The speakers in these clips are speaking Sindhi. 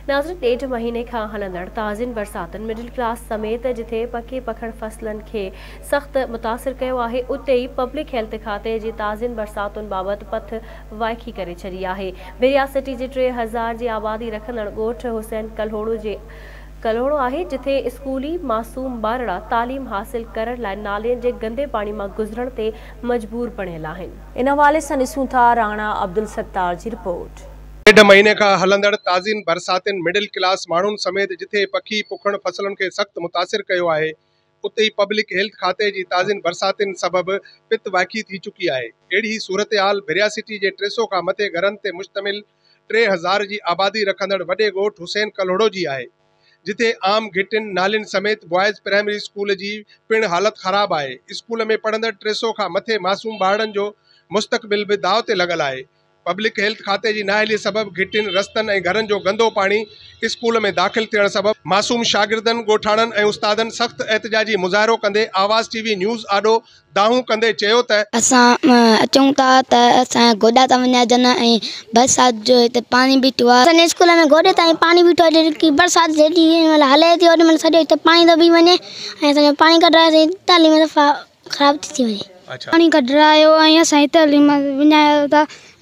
ناظرين ڏيڍ مهيني کان هلندڙ تازين برساتن مڊل ڪلاس سميت جتي پڪي پکڙ فصلن کي سخت متاثر ڪيو آهي اتي ئي پبلڪ هيلٿ کاتي جي تازين برساتن بابت پٿ وائکي ڪري ڇڏي آهي بحريا سٽي جي ٽي هزار جي آبادي رکندڙ ڳوٺ حسين ڪلهوڙو جي ڪلهوڙو آهي جتي اسڪولي معصوم ٻارڙا تعليم حاصل ڪرڻ لاء نالين جي گندي پاڻي مان گذرڻ تي مجبور بڻيل آهن. ان حوالي سان ڏسون ٿا راڻا عبدالستار جي رپورٽ. ڏيڍ مهيني کان هلندڙ تازين برساتن مڊل ڪلاس ماڻهن سميت جٿي پکي پکڻ فصلن کي سخت متاثر ڪيو آهي اتي ئي پبلڪ هيلٿ کاتي جي تازين برساتن سبب پت وائکي ٿي چڪي آهي اهڙي صورتحال ڀريا سٽي جي ٽي سئو کان مٿي گهرن تي مشتمل ٽي هزار جي آبادي رکندڙ وڏي ڳوٺ حسين ڪلهوڙو جي آهي جٿي عام گهٽين نالين سميت بوائز پرائمري اسڪول جي پڻ حالت خراب آهي اسڪول ۾ پڙهندڙ ٽي سئو کان مٿي معصوم ٻارڙن جو مستقبل به داء تي لڳل آهي پبلڪ هيلٿ کاتي جي نااهلي سبب گهٽين، رستن ۽ گهرن جو گندو پاڻي اسڪول ۾ داخل ٿيڻ سبب معصوم شاگردن، ڳوٺاڻن ۽ استادن سخت احتجاجي مظاهرو ڪندي آواز ٽي وي نيوز آڏو دانهون ڪندي چيو ته. اسان اچون ٿا ته اسان جا گوڏا ٿا وڃائجن ۽ برسات جو هتي پاڻي بيٺو آهي. اسان جي اسڪول ۾ گوڏي تائين پاڻي بيٺو آهي جيڪي برسات جيڏي مهل هلي ٿي اوڏي مهل سڄو هتي پاڻي ٿو بيهي وڃي ۽ اسان جو پاڻي ڪڍرائي اسان جي تعليم صفا خراب ٿي ٿي وڃي پاڻي ڪڍرايو ۽ سائين تعليم وڃايو ته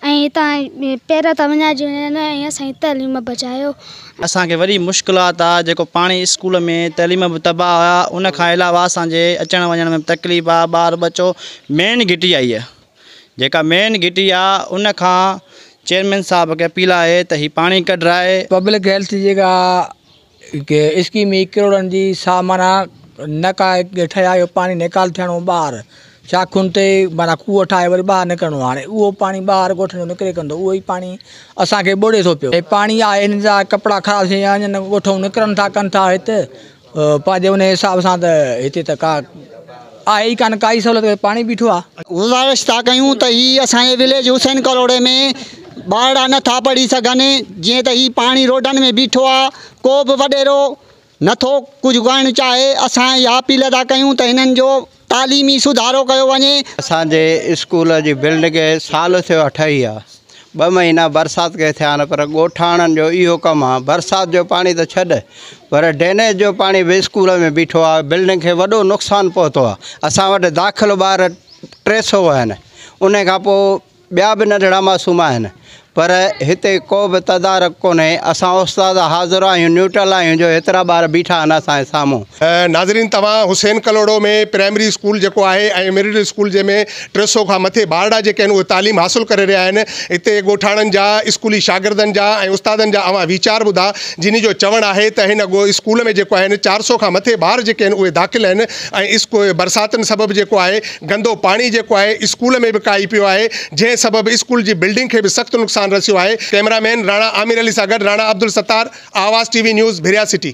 ۽ هتان پير ته وڃائجي وڃن ۽ سائين تعليم بچايو. اسان کي وڏي مشڪلات آ جيڪو پاڻي اسڪول ۾ تعليم به تباهه آ ان کان علاوه اسان جي اچڻ وڃڻ ۾ به تڪليف آ ٻار ٻچو مين گهٽي آ هيء جيڪا مين گهٽي آ ان کان چيئرمين صاحب کي اپيل آهي ته هي پاڻي ڪڍرائي. پبلڪ هيلٿ جيڪا اسڪيم هي ڪروڙن جي سا معنيٰ نه ڪا ٺهيا جو پاڻي نيڪال ٿيڻو ٻاهر شاخن تي معنيٰ کوهه ٺاهي وري ٻاهر نڪرڻو آهي هاڻي اهو پاڻي ٻاهر ڳوٺ جو نڪري ڪندو اهو ئي پاڻي اسانکي ٻوڙي ٿو پيو پاڻي آهي ان جا ڪپڙا خراب ٿي ويا آهن ڳوٺ مون نڪرن ٿا ڪن ٿا هت پنهنجي ان حساب سان ته هتي ته ڪا آهي ئي ڪانه ڪائي سهولت ڪري پاڻ ئي بيٺو آ. گذارش ٿا ڪيون ته هي اسان جي وليج حسين ڪلهوڙي ۾ ٻارڙا نه ٿا پڙهي سگهن جيئن ته هي پاڻ ئي روڊن ۾ بيٺو آ ڪو به وڏيرو نه ٿو ڪجهه ڪرڻ چاهي اسان اها اپيل ٿا ڪيون ته هنن جو تعليمي سڌارو ڪيو وڃي. اسان جي اسڪول جي بلڊنگ کي سال ٿيو آ ٺهي آ. ٻه مهينا برسات کي ٿيا آهن پر ڳوٺاڻن جو اهو ڪم آهي برسات جو پاڻي ته ڇڏ پر ڊرينيج جو پاڻي به اسڪول ۾ بيٺو آهي بلڊنگ کي وڏو نقصان پهتو آهي اسان وٽ داخل ٻار ٽي سو آهن ان کان پوء ٻيا به ننڍڙا معصوم آهن پر هتي ڪو به تدارڪ ڪونهي اسان استاد حاضر آهيون نيوٽرل آهيون جو هيترا ٻار بيٺا آهن اسانجي سامهون. ناظرين توهان حسين ڪلهوڙو ۾ پرائمري اسڪول جيڪو آهي ۽ مڊل اسڪول جنهن ۾ ٽي سؤ کان مٿي ٻارڙا جيڪي آهن اهي تعليم حاصل ڪري رهيا آهن هتي ڳوٺاڻن جا اسڪولي شاگردن جا ۽ استادن جا اوهان ويچار ٻڌا جنهن جو چوڻ آهي ته هن ڳو اسڪول ۾ جيڪو آهن چار سؤ کان مٿي ٻار جيڪي آهن اهي داخل آهن ۽ اسڪو برساتن سبب جيڪو آهي گندو پاڻي جيڪو آهي اسڪول ۾ به ڪائي پيو آهي جنهن سبب اسڪول جي بلڊنگ کي به سخت نقصان رسيو آهي ڪئميرا مين راڻا عامر علي سان گڏ Rana Abdul Sattar Awaz T V news Bhiria city.